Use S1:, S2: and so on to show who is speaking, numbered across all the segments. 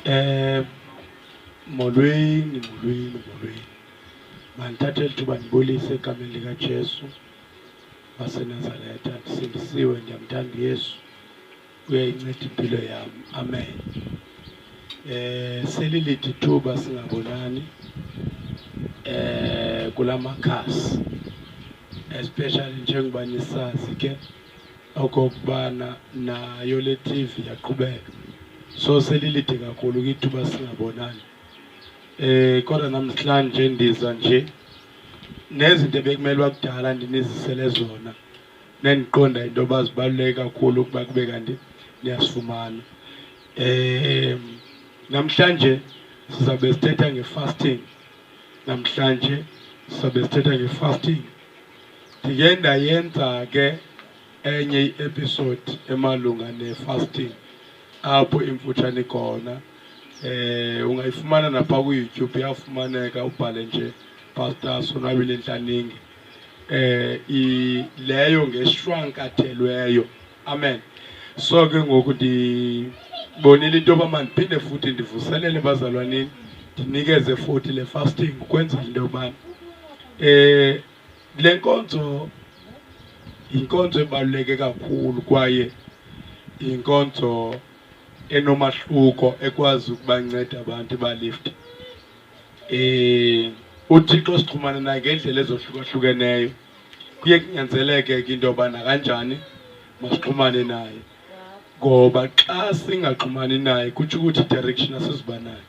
S1: Eh molweni molweni molweni mandithathe eli thuba ndibulise egameni likaJesu waseNazaretha ndisindisiwe ndiyamthanda uYesu uyayinceda impilo yam amen eh selilithi thuba singabonani eh kulamakhasi especially njengoba nisazi ke okokubana nayo le TV yaqhubeka so selilide kakhulu kwithuba singabonani eh kodwa namhlanje ndiza nje nezinto ebekumele wakudala ndinizisele zona nendiqonda into yoba zibaluleke kakhulu ukuba kube kanti niyasifumana um namhlanje sizawube sithetha nge-fasting namhlanje sizawube sithetha nge-fasting Ndiye ndayenza ke enye i-episode emalunga ne-fasting apho imfutshane khona eh ungayifumana napha ku-youtube iyafumaneka ubhale nje pastor sonwabile ntlaningi eh leyo ngeshwankathelweyo amen so ke ngoku ndibonile into yoba mandiphinde futhi ndivuselele bazalwanini ndinikeze futhi le fasting ukwenzela into yobana um eh, Le nkonzo yinkonzo ebaluleke kakhulu kwaye yinkonzo enomahluko ekwazi ukubanceda abantu balift um eh, uthixo sixhumana naye ngeendlela ezohlukahlukeneyo kuye kunyanzeleke ke into yoba nakanjani masixhumane naye ngoba xa singaxhumani naye kutsho ukuthi direction asiziba nayo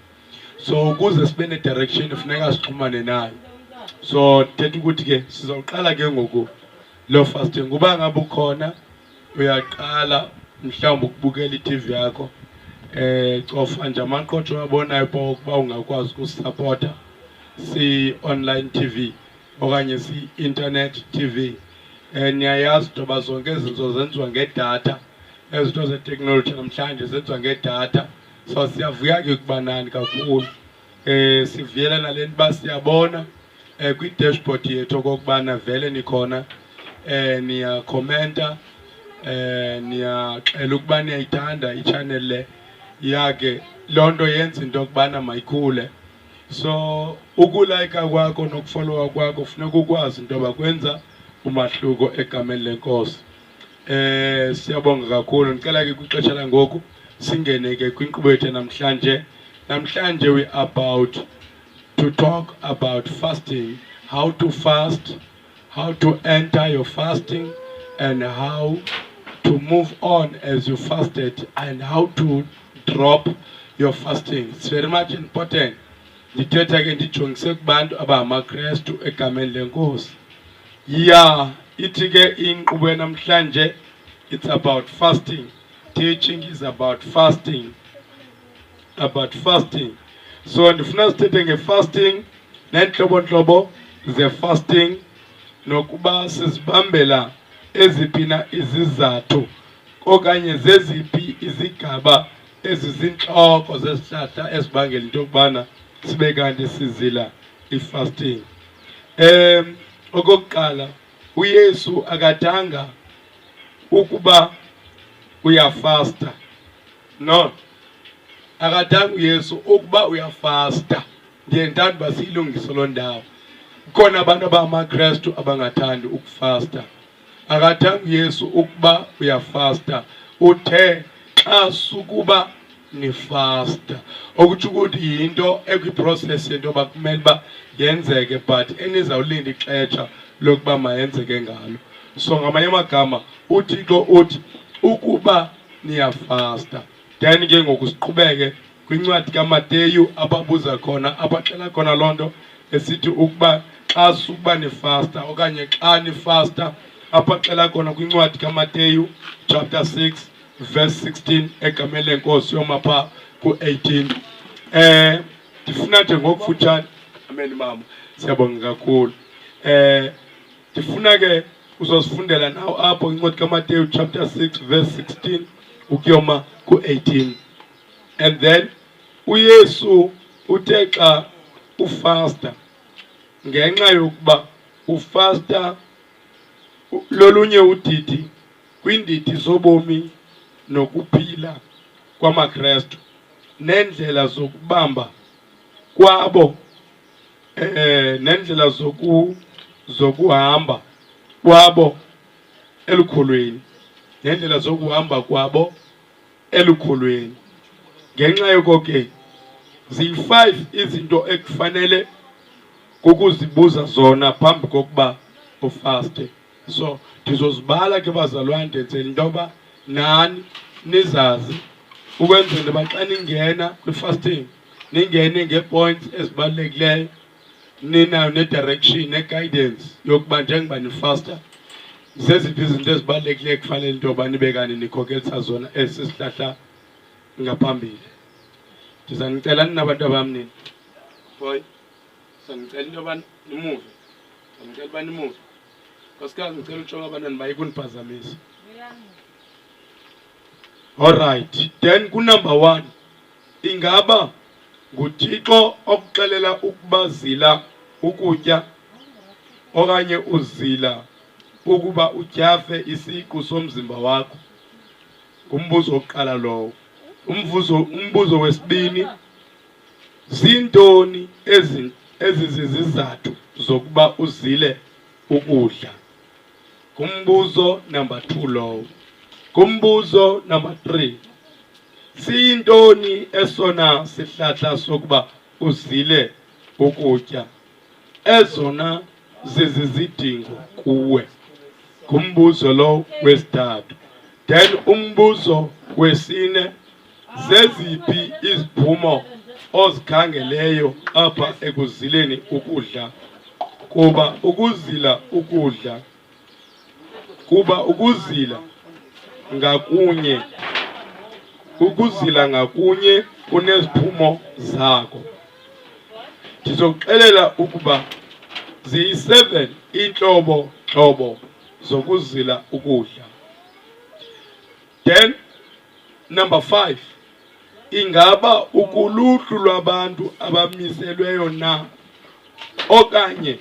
S1: so ukuze sibe ne-direction funeka sixhumane nayo so ndithetha ukuthi ke sizawuqala ke ngoku loo fasting kuba ngabe ukhona uyaqala mhlawumbi ukubukela i-tv yakho eh cofa nje amaqotho uyabonayo uba ukuba ungakwazi ukusapota si-online tv okanye si-internet tv um niyayazi into yoba zonke izinto zenziwa ngedatha ezinto zeteknoloji namhlanje zenziwa ngedatha so siyavuya ke kubanani kakhulu eh sivuyela nalento ba siyabona eh kwi dashboard yethu kokubana vele nikhona eh niya commenta eh niyaxela ukuba niyayithanda i-channel le yake loo nto yenza into yokubana mayikhule so ukulayika kwakho nokufollowa kwakho funeka ukwazi into yoba kwenza umahluko egameni lenkosi Eh siyabonga kakhulu ndicela ke kwixesha langoku singene ke kwinkqubo yethu namhlanje namhlanje we about to talk about fasting how to fast how to enter your fasting and how to move on as you fasted and how to drop your fasting it's very much important ndithetha ke ndijongise kubantu abangamakrestu egameni lenkosi ya ithi ke inkqubo yanamhlanje it's about fasting teaching is about fasting about fasting so ndifuna sithethe ngefasting neentlobo ntlobo zefasting nokuba sizibambela eziphi na izizathu okanye zeziphi izigaba ezizintloko zesihlahla esibangela into yokubana sibe kanti sizila i-fasting Um, okokuqala uYesu akadanga ukuba uyafasta no akadanga uYesu ukuba uyafasta ndiye ndithanda uba siyilungise loo ndawo khona abantu abangamaKrestu abangathandi ukufasta Akathanga uYesu ukuba uyafasta, uthe xa sukuba nifasta, okutsho ukuthi yinto ekwiproses yento yoba kumele uba yenzeke but enizawulinda ixesha lokuba mayenzeke ngalo. So ngamanye amagama uThixo uthi ukuba niyafasta then ke ngoku siqhubeke kwincwadi kamateyu ababuza khona abaxela khona loo nto esithi ukuba xa sukuba nifasta okanye xa nifasta abaxela khona kwincwadi kamateyu chapter 6 verse 16 egameni lenkosi yoma phaa ku-18 um eh, ndifuna nje ngokufutshane ameni mama siyabonga kakhulu um ndifuna ke uzosifundela nawo apho incwadi kamateyu chapter 6 verse 16 ukuyoma ku-18 and then uYesu uthe xa ufasta ngenxa yokuba ufasta lolunye udidi kwiindidi zobomi nokuphila kwamaKrestu neendlela zokubamba kwabo eh nendlela zoku zokuhamba kwabo elukhulwini nendlela zokuhamba kwabo elukholweni ngenxa yoko ke ziyi-five izinto ekufanele kukuzibuza zona phambi kokuba ufaste so ndizozibala ke bazalwane ndenzela into yoba nani nizazi ukwenzela uba xa ningena kwi-fasting ningene ngee-points ezibalulekileyo ninayo ne-direction ne-guidance yokuba njengoba nifasta zeziphi izinto ezibalulekileyo ekufanele into yoba nibe kanti nikhokelisa zona esi sihlahla ngaphambili ndiza nicela ninabantu abam nini boy sandicela into yoba nimuve sandicela uba nimuve nkosikazi ndicela utshoka abantwana baye kundiphazamisa olrayithi then kunumber one Ingaba nguThixo okuxelela ukuba zila ukutya okanye uzila ukuba utyhafe isiqu somzimba wakho? Ngumbuzo wokuqala lowo. Umvuzo umbuzo wesibini zintoni ezi ezizizizathu zokuba uzile ukudla? Ngumbuzo number 2 lowo. Ngumbuzo number 3. Siyintoni esona sihlahla sokuba uzile ukutya? Ezona zizizidingo kuwe. Ngumbuzo lo wesithathu. Then umbuzo wesine Zeziphi iziphumo ozikhangeleyo apha ekuzileni ukudla? Kuba ukuzila ukudla kuba ukuzila ngakunye ukuzila ngakunye kuneziphumo zako. Ndizokuxelela ukuba ziyi-seven iintlobo ntlobo zokuzila ukudla. Then number five, ingaba ukuluhlu lwabantu abamiselweyo na okanye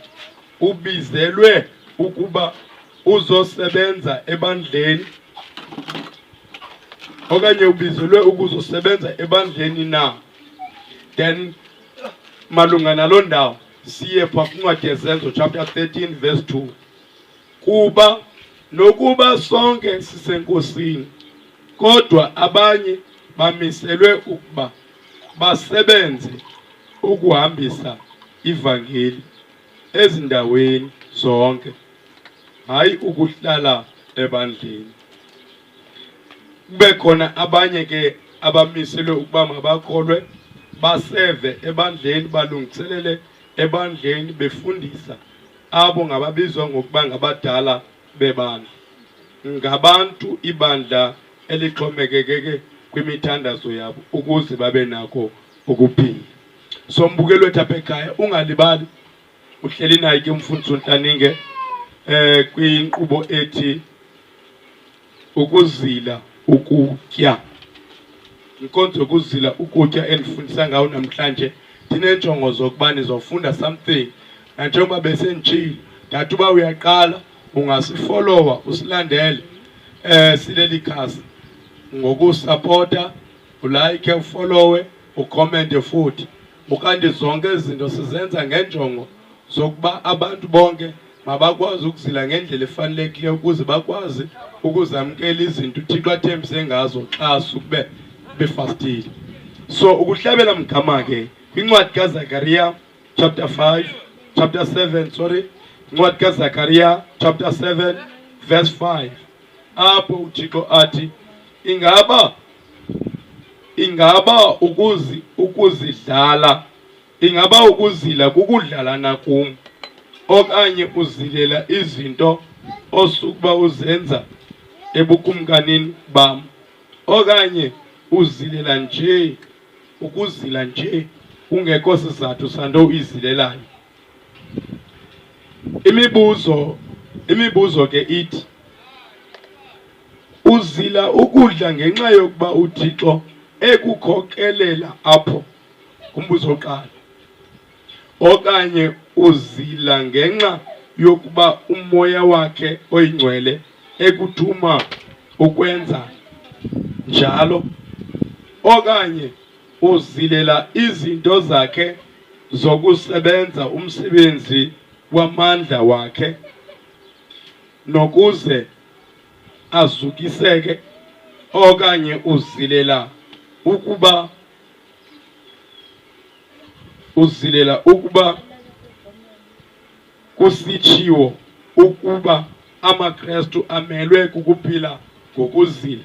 S1: ubizelwe ukuba uzosebenza ebandleni okanye ubizelwe ukuzosebenza ebandleni na then malunga naloo ndawo siye pha kuncwadi yezenzo chapter 13 verse 2 kuba nokuba sonke sisenkosini kodwa abanye bamiselwe ukuba basebenze ukuhambisa ivangeli ezindaweni zonke hayi ukuhlala ebandleni kube khona abanye ke abamiselwe ukuba mabakholwe baseve ebandleni balungiselele ebandleni befundisa abo ngababizwa ngokuba ngabadala bebandla ngabantu ibandla elixhomekekeke kwimithandazo yabo ukuze babe nako ukuphila. So mbukeli wethu apha ekhaya ungalibali uhleli naye ke umfundisi uNtlaninge eh kwinkqubo ethi ukuzila ukutya inkonzo yokuzila ukutya endifundisa ngawo namhlanje ndineenjongo zokuba nizofunda something nanjengoba besenditshile ndathi uba uyaqala ungasifolowa usilandele um sileli khasi ngokusapota ulike ufolowe ukhomente futhi ukanti zonke izinto sizenza ngenjongo zokuba abantu bonke mabakwazi ukuzila ngendlela efanelekileyo ukuze bakwazi ukuzamkela izinto uthixo athembise ngazo xa sukube befastile so ukuhlabela mgama ke kwincwadi kazakariya chapter 5 chapter 7 sorry incwadi kazakariya chapter 7 verse 5 apho uthixo athi ingaba ingaba ukuzi ukuzidlala ingaba ukuzila kukudlala nakum okanye uzilela izinto osukuba uzenza ebukumkanini bam okanye uzilela nje ukuzila nje kungekho sizathu santo uyizilelayo Imibuzo imibuzo ke ithi uzila ukudla ngenxa yokuba uThixo ekukhokelela apho kumbuzo oqala okanye uzila ngenxa yokuba umoya wakhe oyingcwele ekuthuma ukwenza njalo okanye uzilela izinto zakhe zokusebenza umsebenzi wamandla wakhe nokuze azukiseke okanye uzilela ukuba uzilela ukuba kusitshiwo ukuba amaKrestu amelwe kukuphila ngokuzila.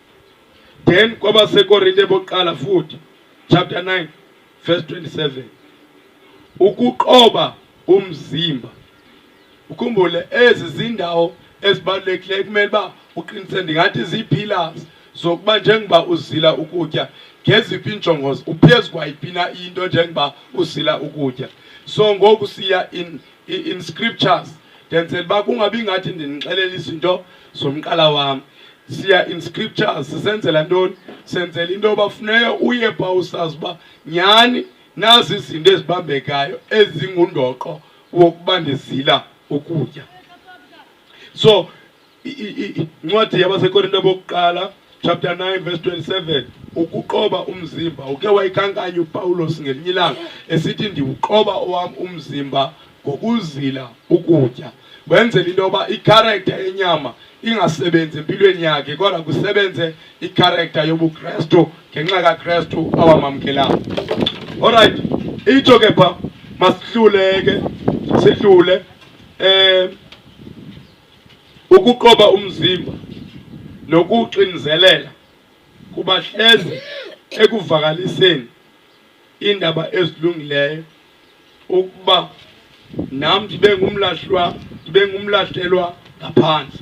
S1: then kwabasekorinte bokuqala futhi chapter 9 verse 27 ukuqoba umzimba ukhumbule ezi zindawo ezibalulekileyo kumele uba uqinisele ndingathi zii-pillars zokuba njengoba uzila ukutya ngeziphi iinjongo uphezu kwayiphi na into njengoba uzila ukutya so ngoku siya in in scriptures ndenzela uba kungabi ngathi ndinixelela izinto zomqala wam siya in scriptures sisenzela ntoni senzela into yoba funeka uye pha usazi uba nyhani nazi izinto ezibambekayo ezingundoqo wokuba ndizila ukutya so incwadi yabasekorinto bokuqala chapter 9 verse 27 ukuqoba umzimba uke wayikankanya upawulos ngelinye ilanga esithi ndiwuqoba owam umzimba ngokuzila ukutya wenzela into yoba ikharektha yenyama ingasebenzi empilweni yakhe kodwa kusebenze ikharektha yobukrestu ngenxa kakrestu awamamkelayo olrayithi itsho ke pha masihluleke sihlule um ukuqoba umzimba nokuxinzelela kubahleze ekuvakaliseni iindaba ezilungileyo ukuba nam ndibe ngumlahlwa ndibe ngumlahlelwa ngaphandle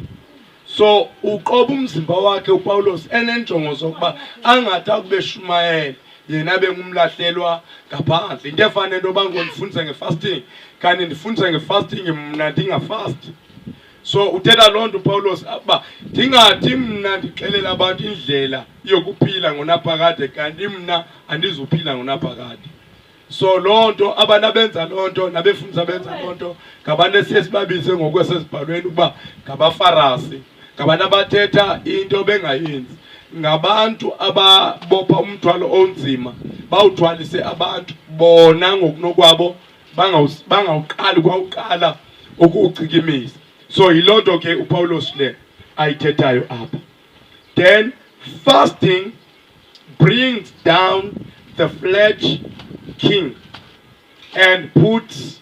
S1: so uqoba umzimba wakhe upawulos eneenjongo zokuba angathi akube shumayela yena bengumlahlelwa ngaphandle into efana nento yoba ngondifundise ngefasting kanti ndifundise ngefasting mna ndingafasti so uthetha loo nto upawulos uba ndingathi mna ndixelela abantu indlela yokuphila ngonaphakade kanti mna andizuphila ngonaphakade so loo nto abantu abenza loo nto nabefundisa benza loo nto ngabantu esiye sibabize ngokwesezibhalweni ukuba ngabafarasi ngabantu abathetha into bengayenzi ngabantu ababopha umthwalo onzima bawuthwalise abantu bona ngokunokwabo bangawuqali kwawuqala ukuwuchikimisa so yiloo nto ke upawulos le ayithethayo apha then fasting brings down the flesh king and puts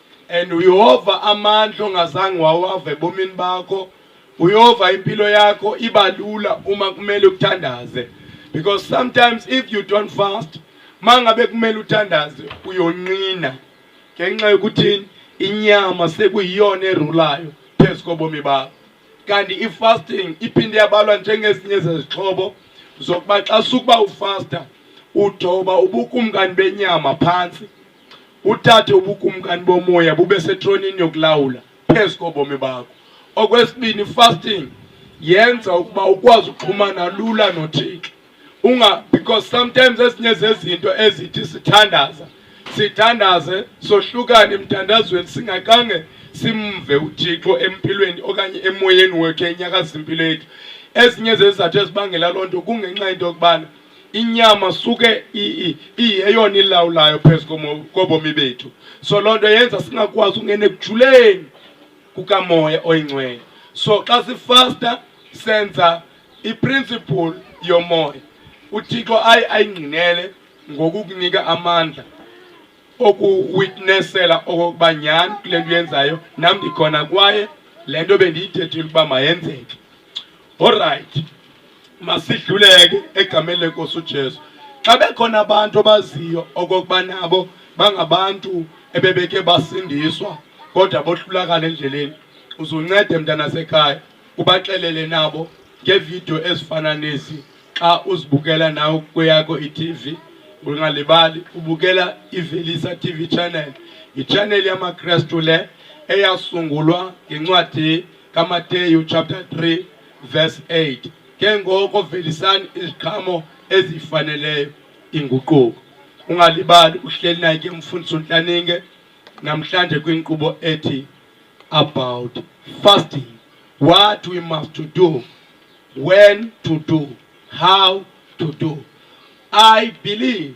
S1: and uyehova amandla ongazange wawave ebomini bakho uyehova impilo yakho iba lula uma kumele uthandaze because sometimes if you don't fast mangabe kumele uthandaze uyonqina ngenxa yokuthini inyama sekuyiyona erulayo phezu kobomi bakho kanti i-fasting iphinde yabalwa njengezinye zezixhobo zokuba xa sukuba ufasta uthoba ubukumkani benyama phantsi uthathe ubukumkani bomoya bube setronini yokulawula phezu kobomi bakho. Okwesibini, fasting yenza ukuba ukwazi ukuxhumana lula noThixo unga because sometimes ezinye zezinto ezithi sithandaza sithandaze sohlukane emthandazweni singaqange simve uThixo empilweni okanye emoyeni wethu enyakaza impilo yethu ezinye zezizathu ezibangela loo nto kungenxa into yokubana inyama suke iyeyona ilawulayo phezu kobomi bethu so loo nto yenza singakwazi ungena ekujuleni kukamoya oyingcwele so xa sifasta senza iprinciple yomoya uthixo aye ayingqinele ngokukunika amandla okuwitnesela okokuba nyhani kule nto uyenzayo nam ndikhona kwaye le nto bendiyithethile ukuba mayenzeke Alright. Masidluleke egameni lenkosi uJesu. Xa bekhona abantu abaziyo okokuba nabo bangabantu ebebeke basindiswa kodwa bohlulakala endleleni uzuncede mntana sekhaya ubaxelele nabo ngeevidiyo ezifana nezi xa uzibukela nawe kweyakho i-tv ungalibali ubukela ivelisa tv channel yitshaneli yamakrestu le eyasungulwa ngencwadi kamateyu chapter 3 verse 8 ke ngoko velisani iziqhamo ezifaneleyo inguquko ungalibali uhleli naye ke umfundisi untlaninge namhlanje kwinkqubo ethi about fasting what we must to do when to do how to do i believe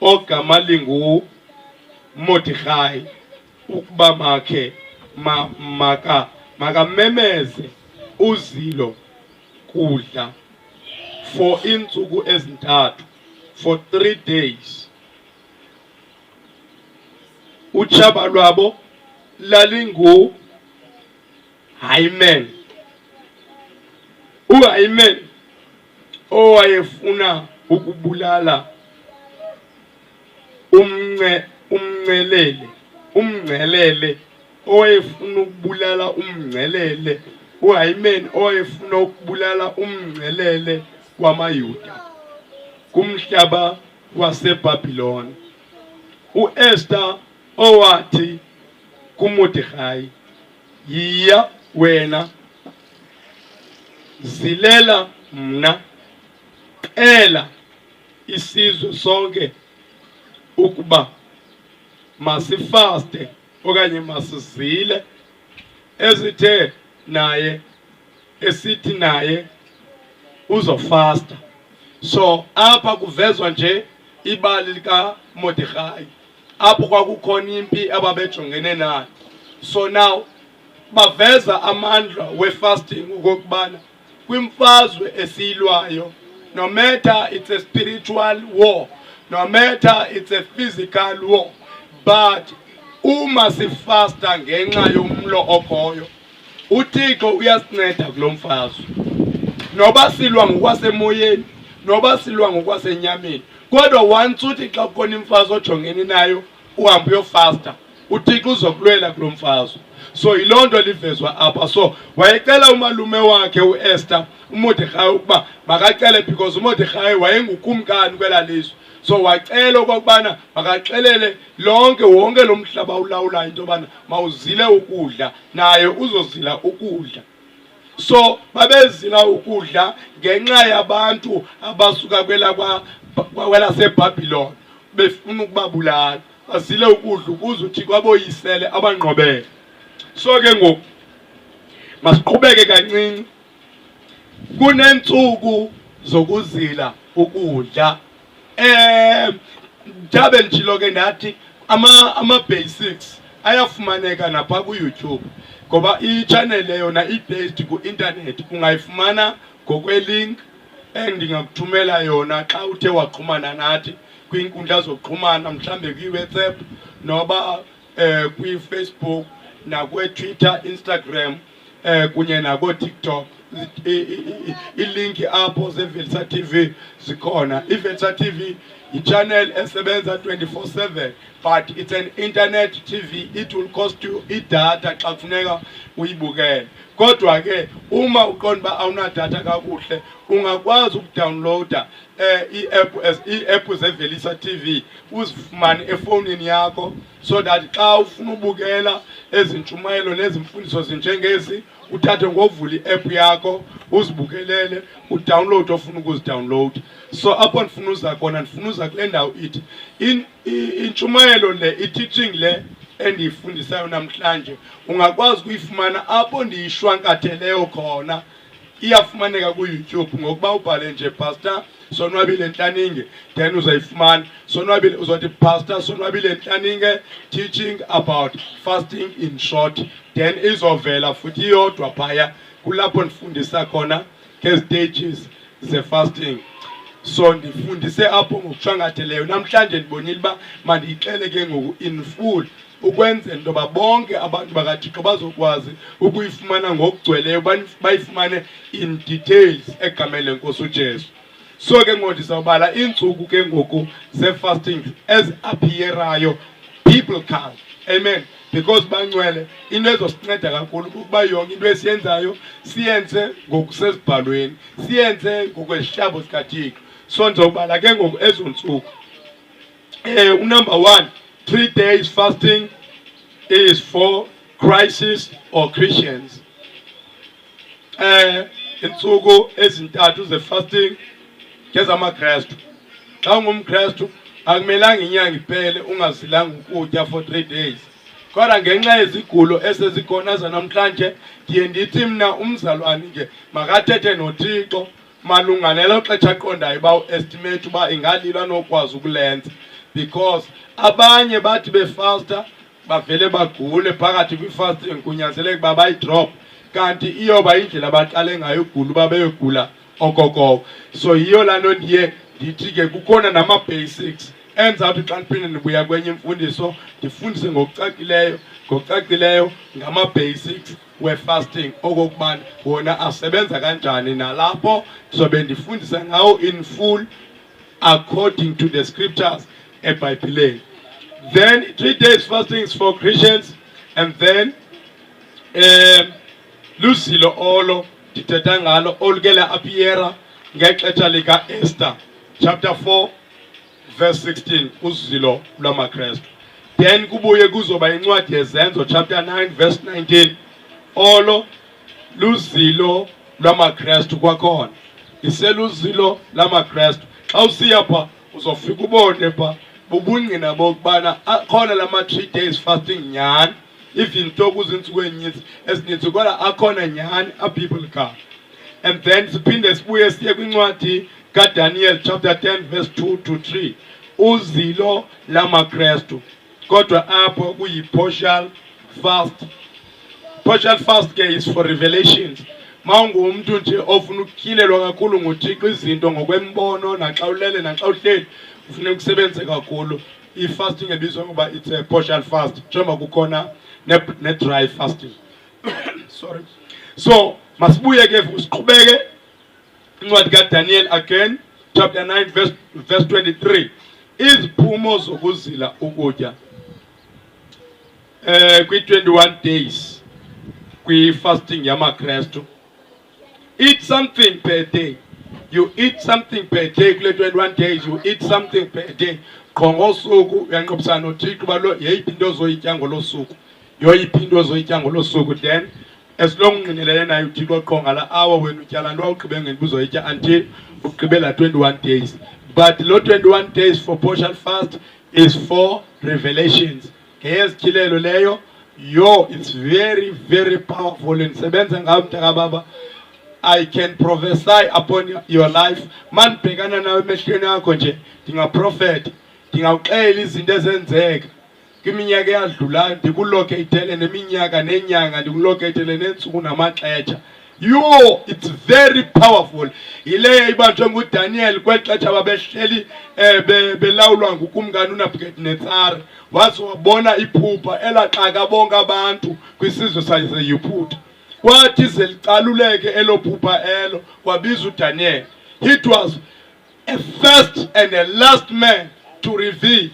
S1: ogama lingu Mordechai ukuba makhe ma, maka makamemeze uzilo kudla for iintsuku ezintathu for three days utshaba lwabo lalingu Hyman uHyman owayefuna ukubulala umnce umncelele umngcelele owayefuna ukubulala umngcelele uHayimeni owayefuna ukubulala umngcelele wamaYuda kumhlaba waseBabiloni uEsther owathi kuMordekhai Yiya wena, zilela mna, cela isizwe sonke ukuba masifaste okanye masizile ezithe naye esithi naye uzofasta. So apha kuvezwa nje ibali likaModikhayi. apho kwakukhona impi ababejongene nayo so now baveza amandla wefasting ukokubana kwimfazwe esiyilwayo no matter it's a spiritual war no matter it's a physical war but uma sifasta ngenxa yomlo okhoyo uthixo uyasinceda kulo mfazwe noba silwa ngokwasemoyeni noba silwa ngokwasenyameni kodwa once uthi xa kukhona imfazwe ojongeni nayo uhambe uyofasta uthixo uzokulwela kulo mfazwe so yiloo nto livezwa apha so wayecela umalume wakhe uester umodekhayi ukuba makacele because umodekhayi wayengukumkani kwela lizwe so wacela okokubana makaxelele lonke wonke lo mhlaba ulawulayo into yobana mawuzile ukudla naye uzozila ukudla so babezila ukudla ngenxa yabantu abasuka kwelakwelaseBabylon befuna ukubabulala bazile ukudla ukuze uthi kwaboyisele abanqobele so ke ngoku masiqhubeke kancinci kunentsuku zokuzila ukudla Eh jabe ndijilo ke ndathi ama ama basics ayafumaneka napha ku YouTube ngoba i channel yona i based ku internet ungayifumana ngokwe link endingakuthumela yona xa uthe waxhumana nathi kwiinkundla zokuxhumana mhlambe kwi-whatsapp noba eh kwi-Facebook nakwe-Twitter, Instagram eh kunye nakoo-TikTok ilinki apho zevelisa TV zikhona. Ivelisa TV yichannel esebenza 24/7 but it's an internet TV it will cost you idatha xa kufuneka uyibukele. Kodwa ke uma uqonda uba awunadatha kakuhle ungakwazi ukudownloada eh i-app as i-app zevelisa TV uzifumane efowunini yakho so that xa ufuna ubukela ezintshumayelo nezimfundiso zinjengezi uthathe ngovula i-app yakho uzibukelele udownload ofuna ukuzidownload so apho ndifuna uza khona ndifuna uza kule ndawo ithi intshumayelo le i-teaching le endiyifundisayo namhlanje ungakwazi ukuyifumana apho ndiyishwankatheleyo khona iyafumaneka kuYouTube ngokuba ubhale nje pastor sonwabile ntlaninge then uzayifumana sonwabile uzothi pastor sonwabile ntlaninge teaching about fasting in short then izovela futhi iyodwa phaya kulapho ndifundisa khona ngezitages zefasting so ndifundise apho ngokushwangatheleyo namhlanje ndibonile uba mandiyixele ke ngoku in full ukwenzela into yoba bonke abantu bakathixo bazokwazi ukuyifumana ngokugcweleyo bayifumane in details egameni lenkosi ujesu so ke ngoku ndizawubala iintsuku ke ngoku zee-fasting eziapiyerayo biblical amen because bancwele into ezosinceda kakhulu kukuba yonke into esiyenzayo siyenze ngokusezibhalweni siyenze ngokwesihlabo sikathixo so ndizawubala ke ngoku ezo ntsuku Eh, number one, three days fasting is for crisis or Christians. Eh, insuku ezintathu ze fasting kezamaKristu. Xa ungumKristu akumelanga inyanga iphele ungasilanga ukutya for three days kodwa ngenxa yezigulo esezikhona zanamhlanje ndiye ndithi mna umzalwane nje makathethe nothixo malunga nelo xetsha aqondayo uba uestimate uba ingalilo anokwazi ukulenza because abanye bathi befasta bavele bagule phakathi kwifasting kunyanzeleke uba bayidrop kanti iyoba indlela abaqale ngayo ugula uba beyogula okokoko so yiyo laa nto ndiye ndithi ke kukhona nama-basics enza uthi xa ndiphinde ndibuya kwenye imfundiso ndifundise ngokucacileyo ngokucacileyo ngama-basics wefasting okokuba wona asebenza kanjani nalapho ndizobe ndifundisa ngawo in full according to the scriptures ebhayibhileni then three days fastings for christians and then um luzilo olo ndithetha ngalo olukela apiyera ngexesha lika-ester chapter 4 verse 16 uzilo lwamakrestu then kubuye kuzoba incwadi yezenzo chapter 9 verse 19 olo luzilo lwamakrestu kwakhona iseluzilo lamakrestu xa usiya pha uzofika ubone pha bubungqina bokubana akhona la ma-three days fasting nyhani even though kuziintsuku enyinzi ezininzi kodwa akhona nyhani abiblical and then siphinde sibuye siye kwincwadi kaDaniel chapter 10 verse 2 to 3 uzilo lamaKristu kodwa apho kuyi-partial fast partial fast ke is for revelations ma ungumntu nje ofuna ukutyilelwa kakhulu nguthixo izinto ngokwembono naxa ulele naxa uhleli ufuna ukusebenze kakhulu i-fasting ebizwa ngoba it's a partial fast njengoba kukhona ne-dry ne fasting sorry so masibuye ke siqhubeke incwadi kaDaniel again chapter 9 verse, verse 23 iziphumo zokuzila ukutya eh kwi-21 days kwi-fasting yamakrestu eat something per day you eat something per day kule 21 days you eat something per day qho ngosuku uyanqobisana nothixo uba yeyiphi into ozoyitya ngolo suku yoyiphi into ozoyitya ngolo suku then esilong ungqinelene naye uthixo qho ngala awa wena utyala nto wawugqibe ngeliba uzoyitya until ugqibela 21 days but lo 21 days for partial fast is for revelations ngeyezityhilelo leyo yo it's very very powerful ndisebenza ngayo mntakababa I can prophesy upon your life mandibhekana nawe emehlweni akho nje ndingaprofeta ndingawuxela izinto ezenzeka Kwiminyaka eyadlulayo ndikulokeyithele neminyaka nenyanga ndikulokeyithele neentsuku namaxetsha yho it's very powerful yileyo ibanjwe ngudaniyeli kweli xetsha babehleli um belawulwa ngukumkani unabukadinetsare waze wabona iphupha elaxaka bonke abantu kwisizwe sayiseyuphutha kwathi ze licaluleke elo phupha elo kwabiza udaniyeli it was a first and a last man to reveal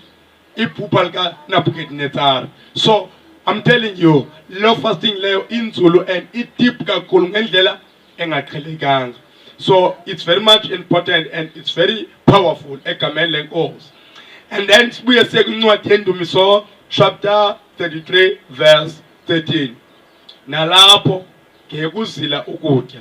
S1: iphupha lika Nebuchadnezzar so I'm telling you lo fasting leyo inzulu and it deep kakhulu ngendlela engaqhelekanga so it's very much important and it's very powerful egameni lenkosi and then sibuye siye kwincwadi yendumiso chapter 33 verse 13 nalapho ngekuzila ukutya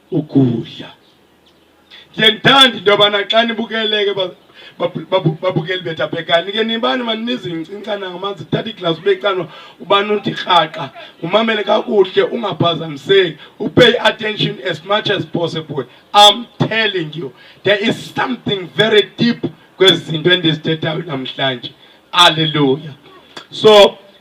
S1: ukudla ndiyendithanda into yobana xa nibukeleke babukeli bethu abhekani ke nibani maninizincincana ngamanzi thatha iglasi ubecanwa ubani uthi rhaqa umamele kakuhle ungaphazamiseki upay attention as much as possible i'm telling you there is something very deep kwezi zinto endizithethayo namhlanje alleluya so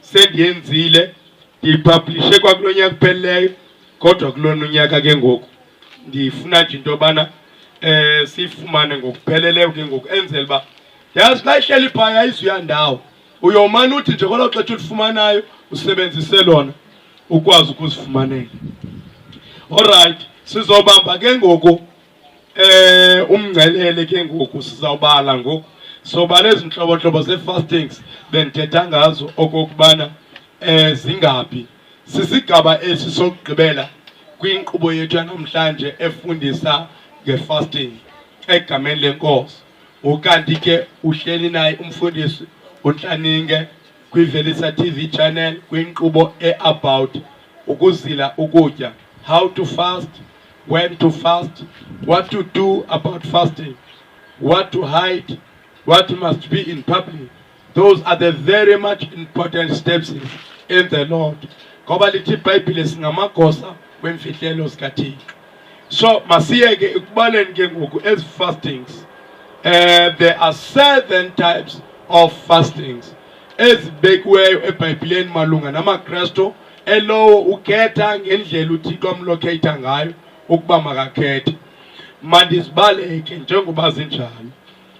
S1: sendiyenzile ndiyiphablishe kwakulo nyaka uphelileyo kodwa kulona unyaka ke ngoku ndifuna nje into yobana um eh, siyifumane ngokupheleleyo ke ngoku enzela uba yazi xa ihleli phaya izuya ndawo uyomane uthi nje kwelo xetsha ulifumanayo usebenzise lona ukwazi ukuzifumanela olrayithi sizobamba ke ngoku Eh umngcelele ke ngoku sizawubala ngoku sobala ezi ntlobontlobo zee-fastings bendithetha ngazo okokubana eh zingaphi sisigaba esi sokugqibela kwinkqubo yethu yanamhlanje efundisa nge-fasting egameni lenkosi ukanti ke uhleli naye umfundisi untlaninge kwivelisa tv channel kwinkqubo e-about ukuzila ukutya how to fast when to fast, what to do about fasting, what to hide, what must be in public. Those are the very much important steps in the Lord. Ngoba lithi iBhayibhile singamagosa wemfihlelo sikaThixo. So masiyeke ekubaleni ke ngoku ezi fastings. Uh, there are seven types of fastings ezibekiweyo eBhayibhileni malunga namaKristu elowo ukhetha ngendlela uthixo amlokhetha ngayo ukuba makakhethe mandizibaleke njengoba zinjalo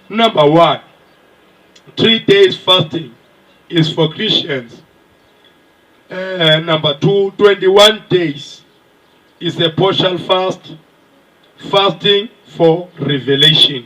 S1: number one three days fasting is for christians uh, number two 21 days is a partial fast fasting for revelation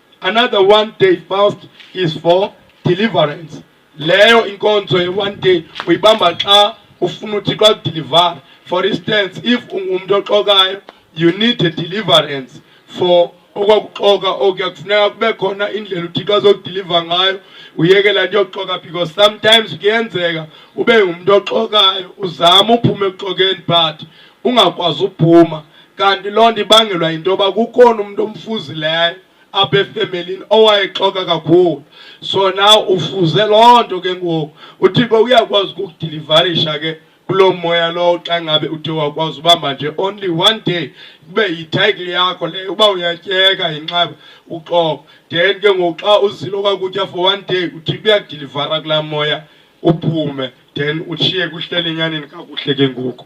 S1: Another one day fast is for deliverance. Leyo inkonzo ye one day uyibamba xa ufuna uThixo akudeliver. For instance, if ungumntu oxokayo, you need a deliverance for okwakuxoka okuya kufuneka kube khona indlela uthixo azokudiliva ngayo uyekela nto yokuxoka because sometimes kuyenzeka ube ngumntu oxokayo uzama uphume ekuxokeni but ungakwazi uphuma kanti loo nto ibangelwa yinto yoba kukhona umntu omfuzileyo apha efemelini owayexoka kakhulu so na ufuze loo nto ke ngoku uthixo uyakwazi ukukudilivarisha ke kuloo moya lowo xa ngabe uthe wakwazi ubamba nje only one day kube yithayikile yakho leyo uba uyatyeka yinxeba uxoko then ke ngoku xa uzilo kwakutya for one day uthi kuyakudilivara kulaa moya uphume then utshiye kuhlele enyaneni kakuhle ke ngoku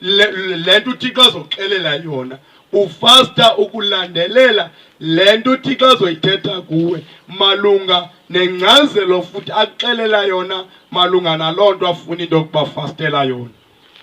S1: le nto uthixo azoxelela yona ufasta ukulandelela le nto uthixo azoyithetha kuwe malunga nengcazelo futhi axelela yona malunga naloo nto afuna into yokuba fastela yona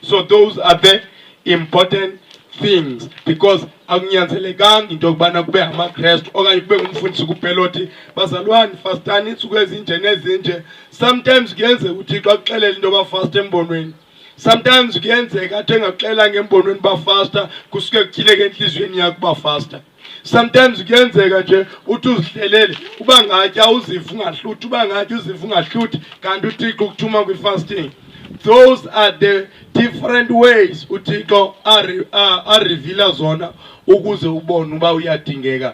S1: so those are the important things because akunyanzelekanga into yokubana kube ngamakrestu okanye kube ngumfundisi kuphela othi bazalwane fastani iintsuku ezinje nezinje sometimes kuyenzeka uthixo akuxelele into yoba fast embonweni sometimes kuyenzeka athi engaxela ngembonweni uba faster kusuke kutyileke entliziyweni yakho uba faster sometimes kuyenzeka nje uthi uzihlelele uba ngatya uziva ungahluthi uba ngatya uziva ungahluthi kanti uthixo ukuthuma kwi-fasting those are the different ways uthixo arevila zona ukuze ubone uba uyadingeka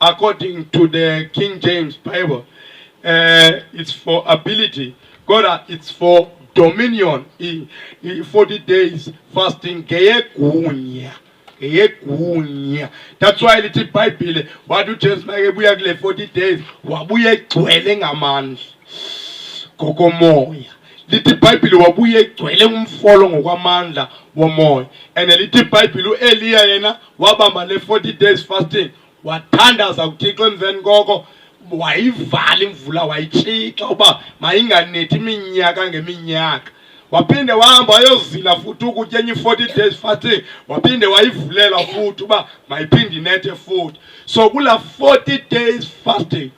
S1: According to the King James Bible, uh, it's for ability. God, uh, it's for dominion. He, he, 40 days fasting. Geyekunya. Geyekunya. That's why little Bible, what do James Bible 40 days? Wabuye kwele ngamandla. Kokomoya. lithi ibhayibhile wabuye egcwele umfolo ngokwamandla womoya and lithi ibhayibhile ueliya yena wabamba le 40 days fasting wathandaza kuthixo emveni koko wayivala imvula wayitshixa uba mayinganethi iminyaka ngeminyaka waphinde wahamba wayozila futhi ukutya enye i-forty days fasting waphinde wayivulela futhi uba mayiphinde inethe futhi so kula forty days fasting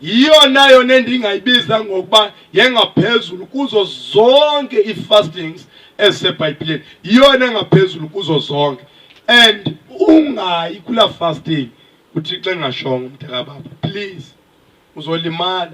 S1: yiyo nayo nendingayibiza ngokuba yengaphezulu kuzo zonke ii-fastings ezisebhayibhileni yiyona engaphezulu kuzo zonke and ungayi kulaa fasting uthixo engashongo umntakababa please uzolimala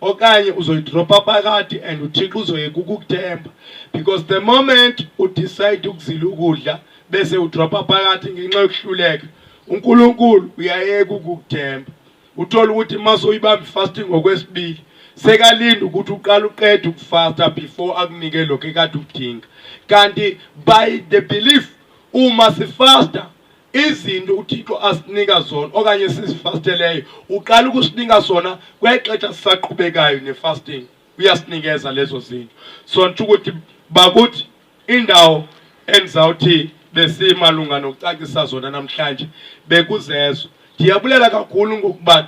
S1: okanye uzoyidropha phakathi and uthixo uzoyeka ukukuthemba because the moment udecide ukuzila ukudla bese udropha phakathi ngenxa yokuhluleka unkulunkulu uyayeka ukukuthemba uthole ukuthi uma soyibamba ifasting ngokwesibili sekalinde ukuthi uqala uqeda ukufasta before akunike lokho ekade ukudinga kanti by the belief uma sifasta izinto uthixo asinika zona okanye sizifasteleyo uqala ukusinika sona kwexesha sisaqhubekayo nefasting uyasinikeza lezo zinto so ntsho ukuthi bakuthi Iindawo endizawuthi besimalunga nokucacisa zona namhlanje bekuzezo. Ndiyabulela kakhulu ngokuba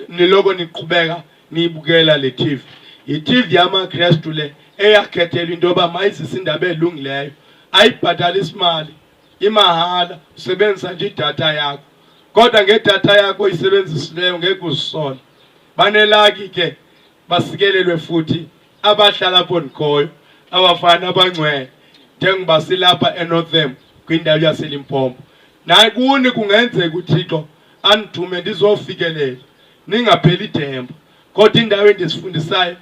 S1: niloko niqhubeka niyibukela le TV. Yi-TV yamaKrestu le eyakhethelwa into yoba mayizise indaba elungileyo. Ayibhatali simali, imahala, usebenzisa nje idatha yakho. Kodwa ngedatha yakho oyisebenzisileyo ngeke uzisole. Banelaki ke. basikelelwe futhi abahlala apho ndikhoyo abafana abangcwele njengoba silapha enortham kwindawo yaselimpompo naye kuni kungenzeka uthixo andithume ndizofikelela ningapheli ithemba kodwa indawo endizifundisayo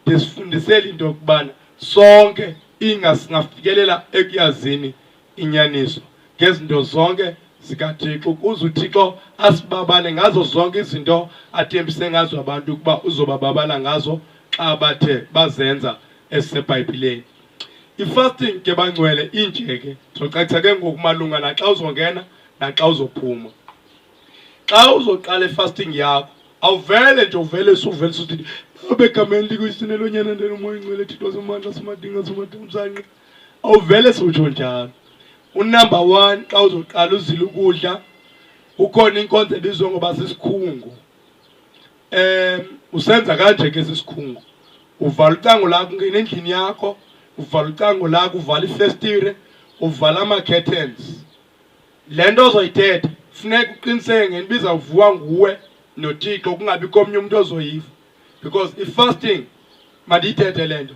S1: ndizifundisela into yokubana sonke ingasingafikelela ekuyazini inyaniso ngezinto zonke zikaThixo ukuze uThixo asibabale ngazo zonke izinto athembise ngazo abantu ukuba uzobababala ngazo xa bathe bazenza esisebhayibhileni i-fasting ke bangcwele inje ke ndizocacisa ke ngoku malunga naxa uzongena naxa uzophuma xa uzoqala i-fasting yakho awuvele nje uvele suvele suthi abegameni likuyisinelonyana ndenomoya ingcwele thixo simandla simadinga simadamsanqa awuvele siwutsho njalo unumber one xa uzoqala uzile ukudla kukhona inkonzo ebizwa ngoba sisikhungu um usenza kanje ke sisikhungu uvala ucango lakho ungena endlini yakho uvala ucango lakho uvala ifestire uvala ama-curtains le nto ozoyithetha funeka uqiniseke ngento ibizawuvuwa nguwe nothixo kungabi komnye umntu ozoyiva because i-fasting mandiyithethe le nto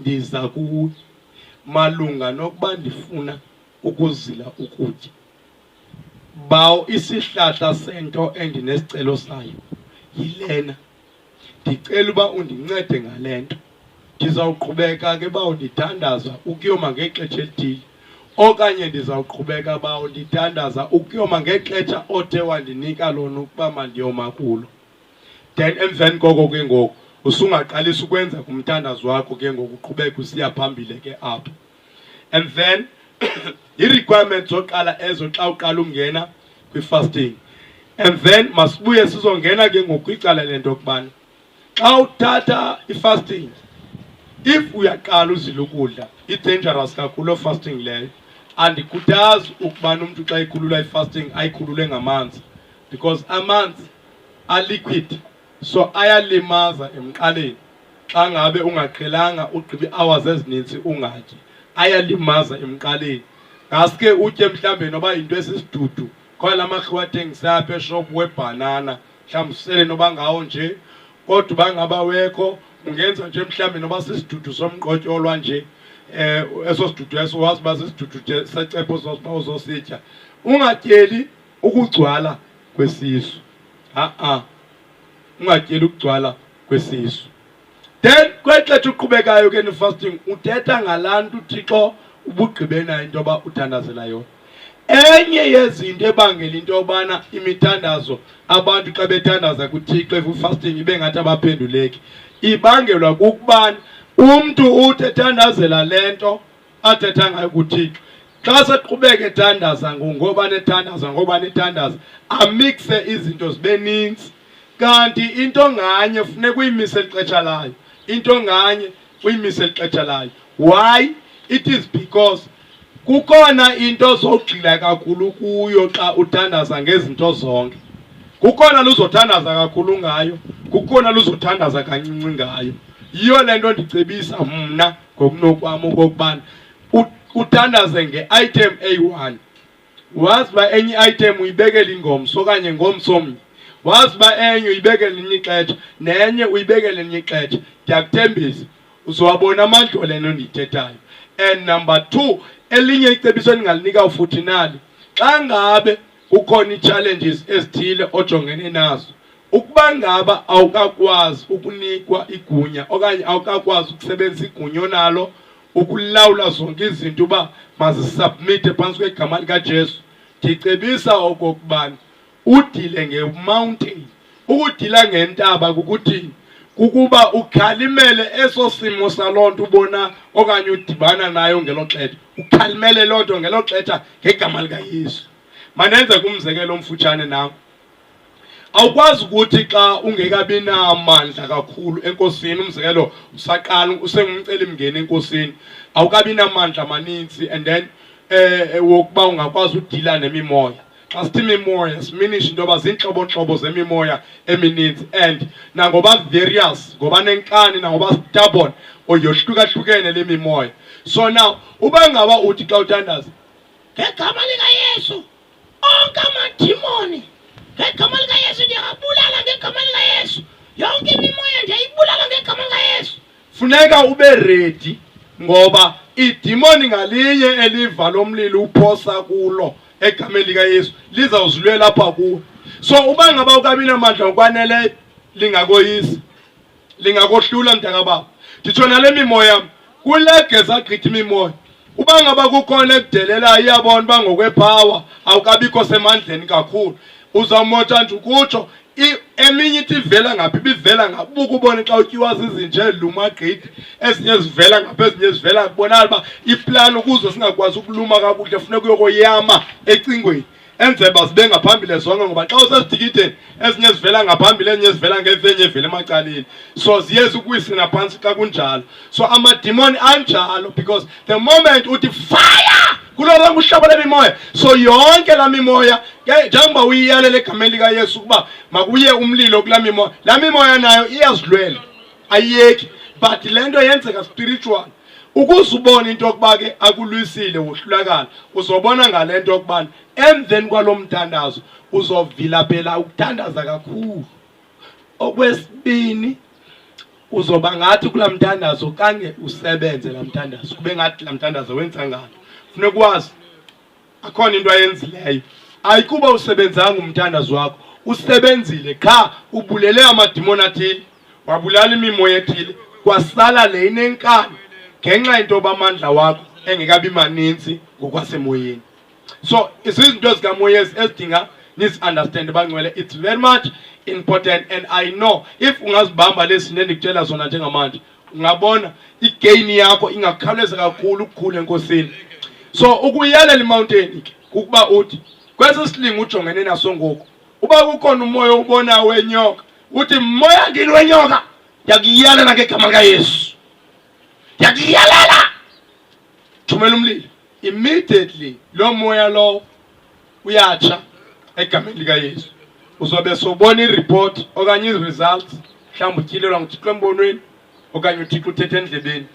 S1: ndiza kuwe malunga nokuba ndifuna ukuzila ukutya. Bawo isihlahla sento endinesicelo sayo yilena. Ndicela uba undincede ngale nto. Ndizawuqhubeka ke bawo ndidandaza ukuyoma ngexesha elithile okanye ndizawuqhubeka bawo ndidandaza ukuyoma ngexesha othe wandinika lona ukuba mandiyoma kulo. then emveni koko ke ngoku usungaqalisa ukwenza kumthandazo wakho ke ngoku uqhubeke usiya phambile ke apho and then i-requirement zoqala ezo xa uqala ungena kwi-fasting and then masibuye sizongena ke ngoku kwicala lento yokubana xa uthatha i-fasting if uyaqala uzile ukudla i-dangerous kakhulu o fasting leyo andikhuthazi ukubana umntu xa ikhulula i-fasting ayikhulule ngamanzi because amanzi are liquid so ayalimaza emqaleni xa ngabe ungaqhelanga ugqiba ii-hours ezininzi ungatyi ayalimaza emqaleni ngaske utye mhlawumbe noba yinto esisidudu khona la makhiwa athengisa apha eshop webhanana mhlawumbi usele noba ngawo nje kodwa uba ngaba wekho ungenza nje mhlawumbi noba sisidudu somqotyolwa nje um eso sidudu eso wazi uba sisidudu secepho uzositya ungatyeli ukugcwala kwesisu a-a ungatyeli ukugcwala kwesisu then kwexetsha uqhubekayo ke nifasting uthetha ngalaa nto uthixo ubugqibena into yoba uthandazela yona enye yezinto ebangela into yobana imithandazo abantu xa bethandaza kuthixo efasting ibe ngathi abaphenduleki ibangelwa kukubana umntu uthi ethandazela le nto athetha ngayo kuthixo xa seqhubeka ethandaza ngoba nethandaza ngoba nethandaza amikse izinto zibe ninzi kanti into nganye funeka uyimise elixesha layo into nganye uyimise elixesha layo why it is because kukhona into zogxila kakhulu kuyo xa uthandaza ngezinto zonke kukhona luzothandaza kakhulu ngayo kukhona luzothandaza kancinci ngayo yiyo le nto ndicebisa mna ngokunokwam okokubana uthandaze nge-item eyi-one wazi uba enye i-item uyibekela ingomso okanye ngomso omnye wazi uba enye uyibekele elinye ixetsha nenye uyibekele elinye ixetsha ndiyakuthembisa uzowabona amandlo le nto ndiyithethayo and number two elinye icebiso endingalinika ufuthi nalo xa ngabe kukhona ii-challenges ezithile ojongene nazo ukuba ngaba awukakwazi ukunikwa igunya okanye awukakwazi ukusebenzisa igunya onalo ukulawula zonke izinto uba mazisubmithe phantsi kwegama likajesu ndicebisa okokubana udile ngemountain Ukudila ngentaba kukuthi kukuba ukhalimele eso simo saloo nto ubona okanye udibana nayo ngelo xetha, ukhalimele loo nto ngelo xetha ngegama likaYesu. Mandenze kumzekelo omfutshane nam. Awukwazi ukuthi xa ungekabi namandla kakhulu enkosini, umzekelo usaqala usengumcelimngeni enkosini, awukabi namandla maninzi and then eh, eh wokuba ungakwazi udila nemimoya xa sithi imimoya siminisha into yoba ziintlobontlobo zemimoya emininzi and nangoba various ngoba nenkani nangoba stubborn or yohlukahlukene le mimoya so now uba ngaba uthi xa uthandaza ngegama likayesu onke amadimoni ngegama likayesu ndiyabulala ngegama likayesu yonke imimoya ndiyayibulala ngegama likayesu funeka ube redi ngoba idimoni ngalinye eliva lo mlilo uphosa kulo egameni likayesu lizawuzilwela apha kuwe so uba ngaba ukabinamandla ngokwaneleyo lingakoyisi lingakohlula mntakababa nditsho nale mimoya kulegeza gqithi imimoya uba ngaba kukhona ekudelelayo iyabona uba ngokwephawa awukabikho semandleni kakhulu uzawumota nje ukutsho eminye ithi ivela ngaphi ibivela ngaphi ubuke ubone xa utyiwa zizinje lumagqithi ezinye zivela ngaphi ezinye zivela kubonala uba iplani ukuze singakwazi ukuluma kakuhle funeka uyokoyama ecingweni enzela uba zibe ngaphambili zonke ngoba xa usesidikideni ezinye zivela ngaphambili ezinye zivela ngezenye evela emacaleni so ziye zikuwisela phantsi xa kunjalo so amadimoni anjalo because the moment uthi fire kuloo lonke uhlobo lemimoya so yonke laa mimoya njengoba uyiyalela egameni likayesu ukuba makuye umlilo kulaa mimoya laa mimoya nayo iyazilwela ayiyeki but le nto yenzeka spiritual ukuze ubone into yokuba ke akulwisile wohlulakala uzobona ngale nto yokubana emveni kwalo mthandazo uzovilapela ukuthandaza kakhulu Okwesibini uzoba ngathi kula mthandazo kange usebenze la mthandazo kube ngathi la mthandazo wenza ngalo funeka ukwazi akhona into ayenzileyo ayikuba usebenzanga umthandazo wakho usebenzile qha ubulele amadimoni athile wabulala imimoya ethile kwasala le inenkani ngenxa yento yoba amandla wakho engekabi maninzi ngokwasemoyeni so zizinto ezikamoya ezidinga nizi-understand bangcwele it's very much important and i know if ungazibamba lezi zinto endikutshela zona njengamanje ungabona igain yakho ingakhawuleza kakhulu ukukhula enkosini so ukuyelela imountain ke kukuba uthi kwesi silingo ujongene naso ngoku uba kukhona umoya ubona wenyoka uthi moya ngini wenyoka ndiyakuyelela ngegama likayesu ndiyakuyelela thumela umlilo immediately loo moya lowo uyatsha egameni likayesu uzobe sobona iripoti okanye iziresults mhlawumbi utyilelwa nguthixo embonweni okanye uthixo uthetha endlebeni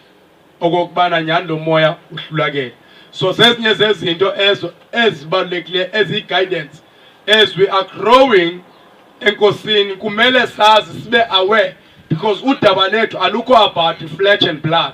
S1: okokubana nyhani lo moya uhlulakele so zezinye zezinto ezo ezibalulekileyo eziyi-guidance as we are growing enkosini kumele sazi sibe aware because udaba lethu alukho about flesh and blood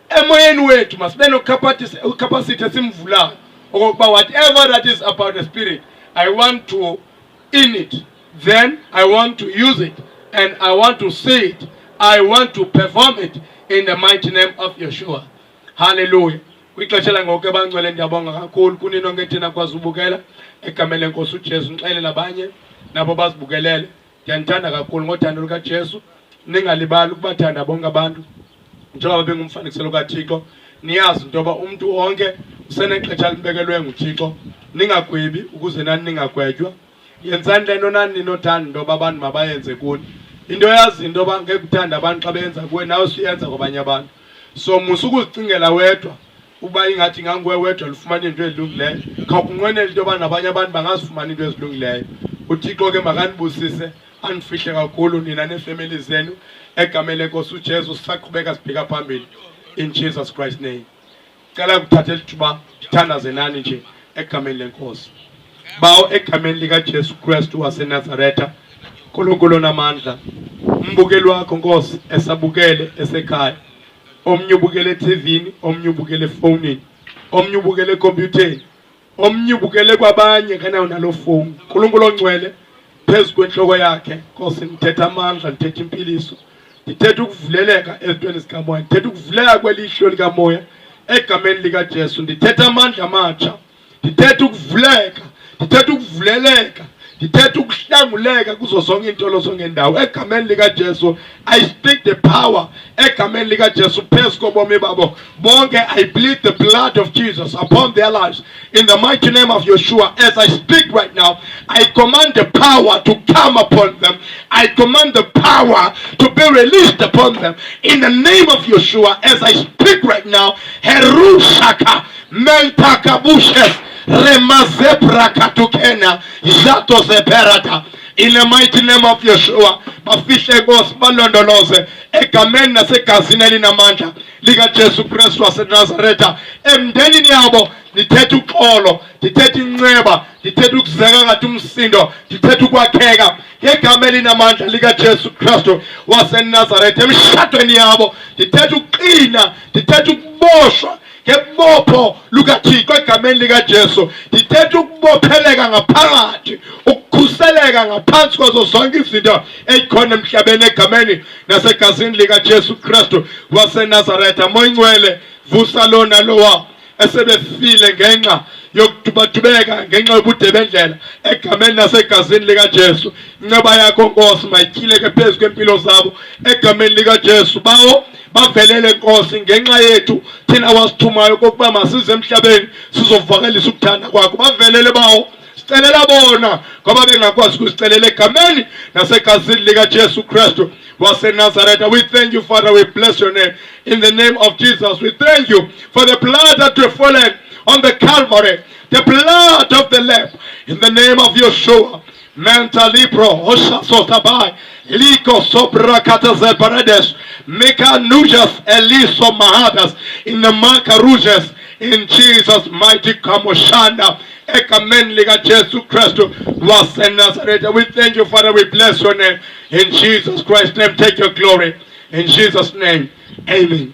S1: Emoyeni wethu masibe nocapacity esimvulayo okokuba whatever that is about the spirit I want to in it then I want to use it and I want to see it I want to perform it in the mighty name of Yeshua hallelujah kwixesha langoku ebangcwele ndiyabonga kakhulu kunino ngethina kwazi ubukela egameni lenkosi ujesu ndixele nabanye nabo bazibukelele ndiyanithanda kakhulu ngothando lukajesu ningalibali ukubathanda bonke abantu njengoba bengumfanekiselo kathixo niyazi into yoba umntu wonke usenexesha libekelwe nguthixo ningagwebi ukuze nani ningagwetywa yenzani le nto nani ninothanda into yoba abantu mabayenze kuni into yazi into yoba ngekuthanda abantu xa beyenza kuwe nawe suyenza kwabanye abantu so musa ukuzicingela wedwa uba ingathi inganguwe wedwa lufumane into ezilungileyo khawukunqwenela into yoba nabanye abantu bangazifumana into ezilungileyo uthixo ke makanibusise anifihle kakhulu nina neefemeli zenu egameni lenkosi ujesu sisaqhubeka sibheka phambili in jesus christ name cela kuthatha elithuba ndithandaze nani nje egameni lenkosi bawo egameni likajesu kristu wasenazaretha nkulunkulu namandla umbukeli wakho nkosi esabukele esekhaya omnye ubukela ethivini omnye ubukela efowunini omnye ubukela ekhompyutheni omnye ubukele kwabanye kanayo naloo fowuni nkulunkulu ongcwele phezu kwentloko yakhe nkosi ndithetha amandla ndithetha impiliso ndithetha ukuvuleleka ezintweni zikamoya ndithetha ukuvuleka kwelihlo likamoya egameni likajesu ndithetha amandla amatsha ndithetha ukuvuleka ndithetha ukuvuleleka ndithetha ukuhlanguleka kuzo zonke iintolo zongendawo egameni likajesu i speak the power egameni likajesu phezu kobomi babo bonke i bleed the blood of jesus upon their lives in the mighty name of yeshua as i speak right now i command the power to come upon them i command the power to be released upon them in the name of yeshua as i speak right now herushaka mentakabushes remazebra katukena jato zeperata in the mighty name of Yeshua bafihle Nkosi balondoloze egameni nasegazini elinamandla likaJesu Kristu waseNazaretha emndenini yabo ndithetha uxolo ndithetha inceba ndithetha ukuzeka ngathi umsindo ndithetha ukwakheka ngegama elinamandla likaJesu Kristu waseNazaretha emshadweni yabo ndithetha ukuqina ndithetha ukuboshwa ngebopho lukathixo egameni likajesu ndithetha ukubopheleka ngaphakathi ukukhuseleka ngaphansi kwazo zonke izinto ezikhona emhlabeni egameni nasegazini likajesu kristu wasenazaretha moyingcwele vusa lona lowa esebefile ngenxa yokudubatubeka ngenxa yobude bendlela egameni nasegazini likajesu inceba yakho nkosi mayityhileke phezu kweempilo zabo egameni likajesu bawo bavelele Nkosi ngenxa yethu thina wasithumayo kokuba masize emhlabeni sizovakalisa ukuthanda kwakho bavelele bawo sicelela bona ngoba bengakwazi ukusicelela egameni nasegazini likajesu kristu wasenazareta we thank you father we bless your name in the name of jesus we thank you for the blood that were fallen on the calvary the blood of the lamb in the name of yeshua mentalipro hoshasotabai liko sobrakataze paredes mekanujas eliso mahadas in the makarujes in Jesus mighty kamoshanda Amen. Liga Jesu Kristo was in Nazareth. We thank you, Father. We bless your name. In Jesus Christ's name, take your glory. In Jesus' name, amen.